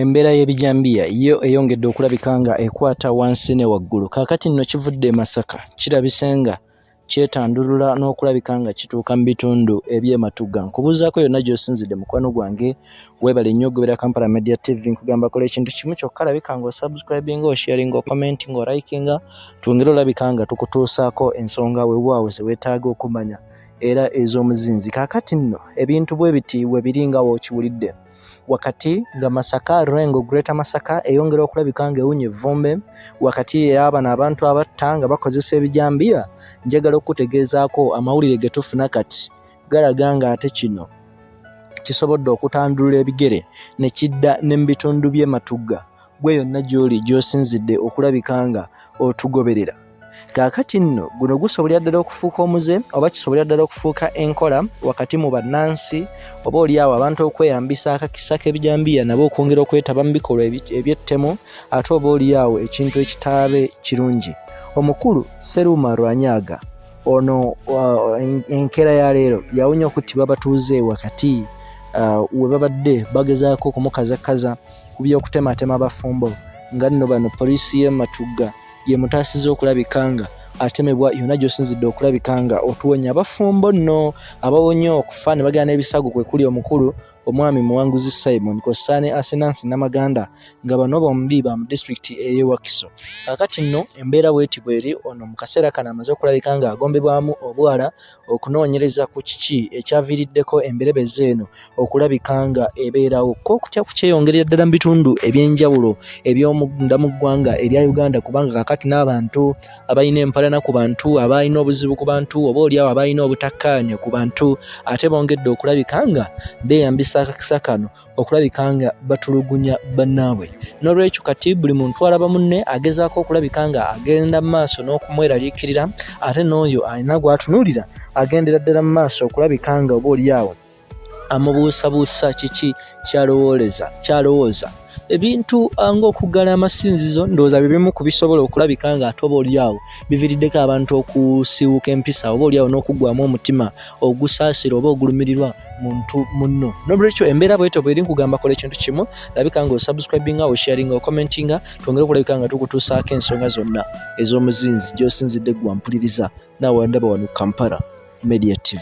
embeera y'ebijambiya yo eyongedde okulabika nga ekwata wansi ne waggulu kaakati nno kivudde e masaka kirabise nga kyetandulula n'okulabika nga kituuka mu bitundu eby'ematugga nkubuuzaako yonna gy'osinzidde mukwano gwange Webale nnyo okugoberera Kampala Media TV nkugamba kola ekintu kimu kyokka labika nga osubscribinga osharinga okomentinga olikinga twongere olabika nga tukutuusaako ensonga wewaawo zewetaaga okumanya era ez'omuzinzi kaakati nno ebintu bwe biti we biri nga wokiwulidde wakati nga masaka rengo greata masaka eyongera okulabika nga ewunya evvumbe wakati eyabano abantu abatta nga bakozesa ebijambiya njagala okukutegeezaako amawulire getufuna kati galaga ng'ate kino kisobodde okutandulula ebigere ne kidda ne mu bitundu by'e Matugga gwe yonna gy'oli gy'osinzidde okulabika nga otugoberera kaakati nno guno gusobolera ddala okufuuka omuze oba kisobolera ddala okufuuka enkola wakati mu bannansi oba olyawo abantu okweyambisa akakisa k'ebijambiya nabo okwongera okwetaba mu bikolwa eby'ettemu ate oba olyawo ekintu ekitaabe kirungi omukulu seruuma rwanyaga ono uh, enkeera ya leero yawunya okuttibwa abatuuze wakati uh, we babadde bagezaako okumukazakaza ku by'okutematema abafumbo nga nno bano poliisi y'e matugga yemutaasiza okulabika nga atemebwa yonna gy'osinzidde okulabika nga otuwonya abafumbo nno abawonye okufa ne bagenda n'ebisago kwe kuli omukulu Omwami Muwanguzi Simon kw'ossa ne Asenansi Namaganda nga bano bombi ba mu disitulikiti ey'e Wakiso. Kaakati nno embeera bw'eti bw'eri, ono mu kaseera kano amaze okulabika ng'agombebwamu obwala okunoonyereza ku kiki ekyaviiriddeko emberebezi eno okulabika ng'ebeerawo. Kko okutya kukyeyongerera ddala mu bitundu eby'enjawulo eby'omunda mu ggwanga erya Uganda kubanga kaakati n'abantu abalina empalana ku bantu abaalina obuzibu ku bantu oba oliawo abaalina obutakkaanya ku bantu ate bongedde okulabika nga beeyambisa akakisa kano okulabika nga batulugunya bannaabwe n'olwekyo kati buli muntu alaba munne agezaako okulabika nga agenda mu maaso n'okumweraliikirira ate n'oyo alina gw'atunuulira agendera ddala mu maaso okulabika nga oba oliawo amubuusabuusa kiki kyalowooleza kyalowooza ebintu ah, ng'okuggala amasinzizo ndowooza bye bimu ku bisobola okulabika nga ate oba olyawo biviiriddeko abantu okusiiwuka empisa oba olyawo n'okuggwamu omutima ogusaasira oba ogulumirirwa muntu munno nolwekyo embeera bwetyo bweri nkugamba kola ekintu kimu labika nga osubscribinga osharinga okommentinga twongere okulabika nga tukutuusaako ensonga zonna ez'omuzinzi gy'osinzidde ggwampuliriza nawe ndaba wano kampala media tv